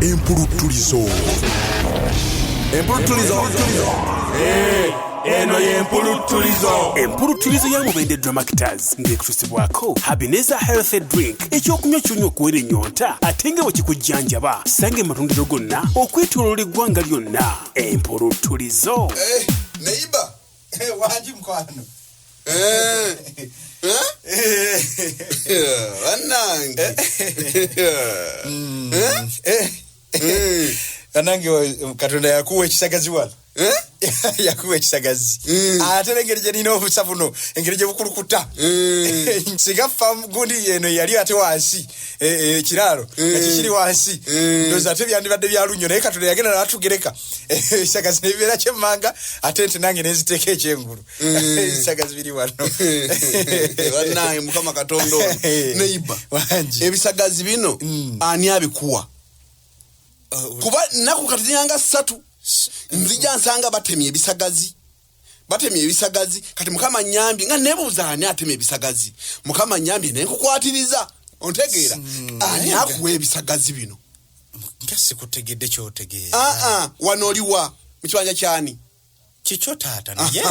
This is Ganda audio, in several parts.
empuluttulizo empuluttulizo eh, eno yempuluttulizo empuluttulizo ya mubende dramactors ng'ekutusibwako habineza healthy drink ekyokunywa kyonywa okuwera ennyonta ate nga bwe kikujjanjaba sanga ematundiro gonna okwetoloola eggwanga lyonna empuluttulizo eh, neiba Eh, wangi mukwano Eh, eh, yeah, bannange Yeah. Mm. Eh, Mm, banange wa- katonda yakuwa ekisagazi wano eh? yakuwa ekisagazi Mm. ate nengeri gyelina obusa buno engeri gyebukulukuta Mm. singa famu gundi eno yali ate wansi ekiraalo eh, eh, nga eh. kikiri wansi ndoza ate byandibadde byalunnyo naye katonda yagenda natugereka esaga zinebibeera kyemmanga ate nti nange nenziteeka ekyengulu esaga zibiri wanonaye mukama katonda ono neiba ebisagazi bino mm. ani abikuwa uh, kuba naku katiziyanga satu nzija nsanga batemye ebisagazi batemye ebisagazi kati mukama nyambye nga nebuuza ani atema ebisagazi mukama nyambye naye nkukwatiriza ontegeera hmm. ani akuwa ebisagazi bino nga sikutegedde kyotegeera aa ah, ah, wano oliwa mu kibanja kyani kikyo taata naye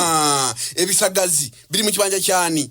ebisagazi biri mu kibanja kyani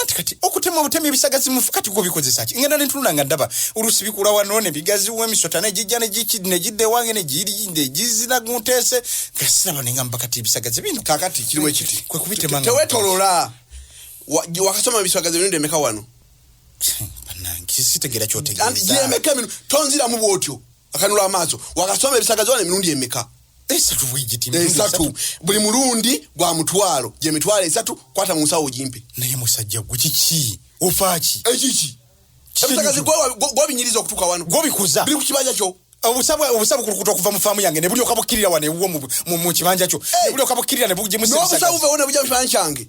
anti kati okutema obutema ebisagazi mufu kati gubikozesa ki ngenda nentunula nga ndaba oluusi bikula wano nebigaziwo emisota negijja negidda ewange negizira guntese gasiraba nengamba kati ebisagazi bino kakati kiriwo ekiti kwe kubitema tewetolola wakasoma ebisagazi bino ndemeka wano banange sitegera kyotegeeza ndemeka bino tonziramu bwotyo akanula amaaso wakasoma ebisagazi wano emirundi emeka esatu bwegiti esatu buli mulundi gwa mutwalo gye mitwalo esatu kwata mu nsawo gimpe naye musajja gwe kiki ofaaki ekiki ebisagazi gwobinyiriza okutuka wano gwobikuza biri ku kibanja kyo obusabu obusabu kulukuta okuva mu faamu yange ne buli okabukirira wano ewuwo mu kibanja kyo ne buli okabukirira ne bugye mu sibisagazi n'obusabu bwe wona bugya mu kibanja kyange